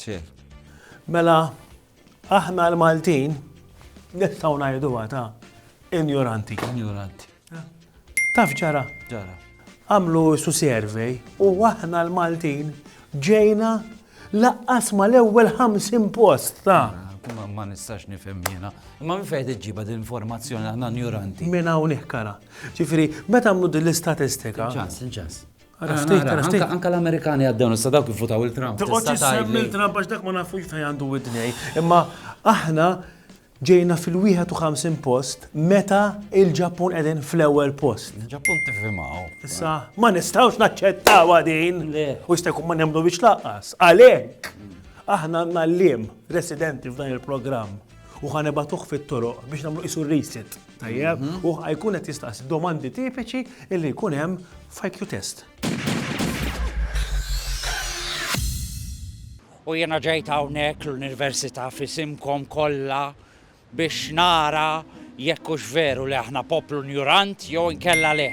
Ċer. Mela, aħna l-Maltin nistgħu ngħiduha ta' injoranti. Injoranti. Taf ġara? Ġara. Għamlu su survey u aħna l-Maltin ġejna laqqas ma l-ewwel 50 post ta' ah, ma nistax nifhem jiena. Imma minn fejn iġġiba din informazzjoni aħna injoranti. Minn hawn kara. Ġifieri, meta għamlu din l-istatistika. Ġas, ġas. Ara, ara, ara, anka l-Amerikani għaddew nista' dawk jifutaw il-Trump. Tista' tgħid li Trump għax dak ma nafux fejn għandu widnej, imma aħna ġejna fil-51 post meta il-Ġappun qegħdin fl-ewwel post. Il-Ġappun tifhimaw. Issa, ma nistgħux naċċettaw din. U jista' jkun ma nemmnu biex laqqas. Għalhekk, aħna għandna l-lim residenti f'dan il-programm u ħanibatuh fit-toroq biex nagħmlu qisu reset. Tajjeb, mhm. u jkun qed jistaqsi domandi tipiċi illi jkun hemm f'IQ test. U jena ġejt hawnhekk l-Università fisimkom kollha biex nara jekkux veru li aħna poplu njurant jew inkella le.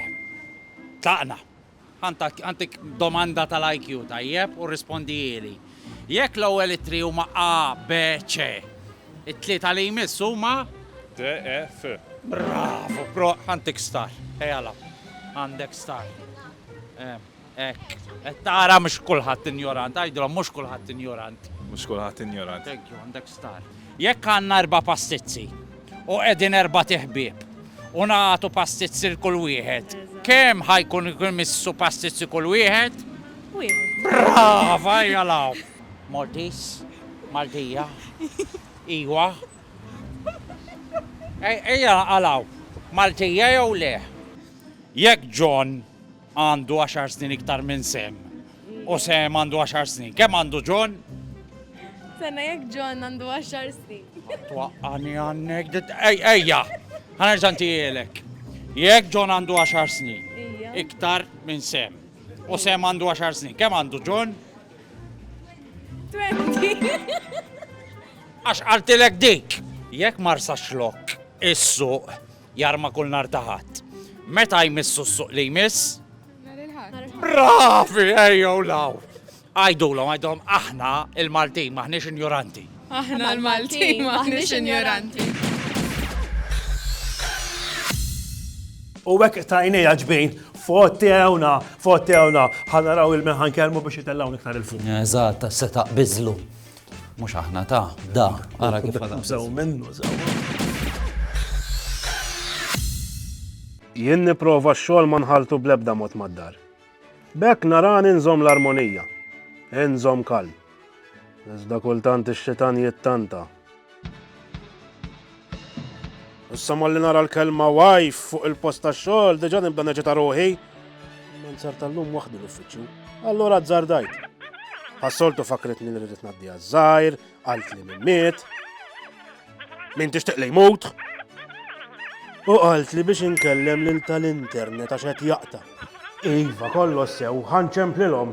Taqna. Għandek domanda tal-IQ, tajjeb, u rrispondihieli. Jekk l-ewwel ittri huma A, B, C, it-tlieta li jmiss huma? D, E, F. Bravu, bro! Għandek star. Ejja għalaq. Għandek star. Hekk. Qed tara mhux kulħadd injorant. Għidilhom mhux kulħadd injorant. Mhux kulħadd injorant. Thank you, għandek star. Jekk għandna erba' pastizzi, U qegħdin erbat iħbieb. U nagħtu pastizzi l kull wieħed. Kemm ħa jkun imissu pastizzi kull wieħed? Wieħed. Brava, ejja law. Maltis, Maltija. Iwa. Ejja għalaw. Maltija jew le? Jekk John għandu għaxar snin iktar minn Sam. U Sam għandu għaxar snin. Kemm għandu John? Sena jekk John għandu għaxar snin. Twaqqani għannek, ejja, ħanerġan tijelek. Jekk John għandu għaxar snin, iktar minn Sam. U Sam għandu għaxar snin. Kemm għandu John? 20. Għax għaltilek dik, jekk marsa xlok, issu, Jarma kull nhar ta' Ħadd. Meta jmissu s-suq li jmiss? Nhar il-Ħadd. Bravi, ejjew law! Għidulhom, għidulhom aħna il-Maltin m'aħniex injoranti. Aħna l-Maltin m'aħniex injoranti. U hekk tajnejja ġbin, fottewna, fottewna, ħanaraw il-meħan kelmu biex jitellgħu iktar il-fuq. Eżatt, se taqbiżlu. Mhux aħna ta' da, ara kif Jien nipprova x-xogħol ma nħaltu bl-ebda mod mad-dar. B'hekk narani nżomm l-armonija, inżomm kal. Iżda kultant ix-xitan jittanta Issa malli nara l-kelma wajf fuq il-post ta' xogħol, diġà nibda neġita ruħi. Man sar tal-lum waħdi l-uffiċċju. Allura azzardajt. Ħassoltu fakritni li rrid ngħaddi għaż-żgħir, għalt li mimmiet. Min tixtieq li jmut? U qalt li biex inkellem lil tal-internet għax qed jaqta. Iva, kollox sew, ħanċemplilhom.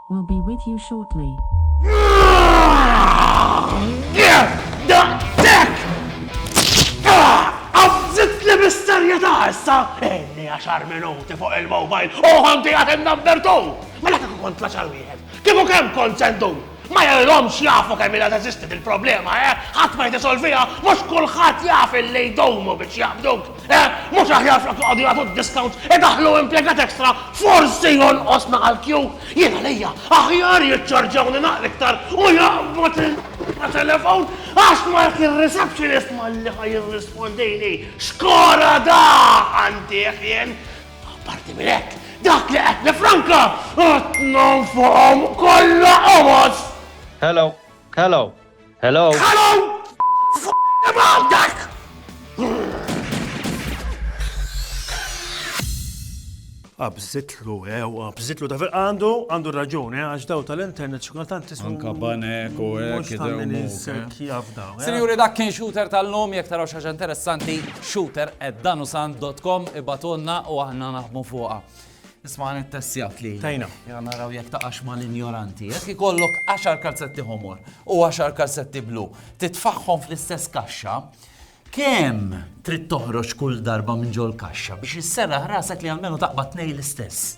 We'll be with you shortly. Daqshekk! Għażżitli bis-serjetà issa! Inni għaxar minuti fuq il-mobile u ħanti għad in-number two! Mela kieku kont tlaċar wieħed, kieku kemm kont sendu? Ma jgħidhomx jafu kemm ilha teżisti dil-problema, eh? Ħadd ma jtisolviha, mhux kulħadd jaf illi jdumu biex jaqbduk. Eh, mhux aħjar flok joqogħdu jagħtu d-discounts idaħħlu impjegat extra forsi jonqosna għall-kju? Jien għalija aħjar jiċċarġawni naqra iktar u jaqbad il telefon għax ma jekk ir-receptionist malli ħaj jirrispondini. Xkora da għandih jien. Parti minn hekk, dak li qed nifranka qed nonfoqhom kollha qomos. Hello, hello. Hello! Hello! Abżitlu, ew, abżitlu, ta' fil għandu, għandu raġuni, eh, għax daw tal-internet xikultant tismu. Anka banek u għek, eh. Sinjuri, dak kien shooter tal-lum, jek taraw xaġa interessanti, shooter at danusan.com, ibatonna u għahna naħmu fuqa. Isma' għan it-tessijat li. Tajna. Ja naraw jek taqax ma l-injoranti. Jek ikollok 10 kalzetti homor u 10 kalzetti blu, titfaħħom fl-istess kaxxa, kem trid toħroġ kull darba minn ġol kaxxa biex jissera ħrasek li għalmenu taqba tnej l-istess?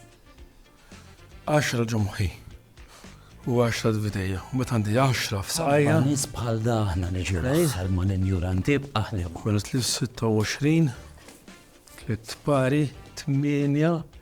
10 ġumħi u 10 dvitejja. Met għandi 10 f'saqajja. Nis bħal daħna neġir għal ma l-injoranti b'aħlem. Kwenet li 26, tlitt pari, 8,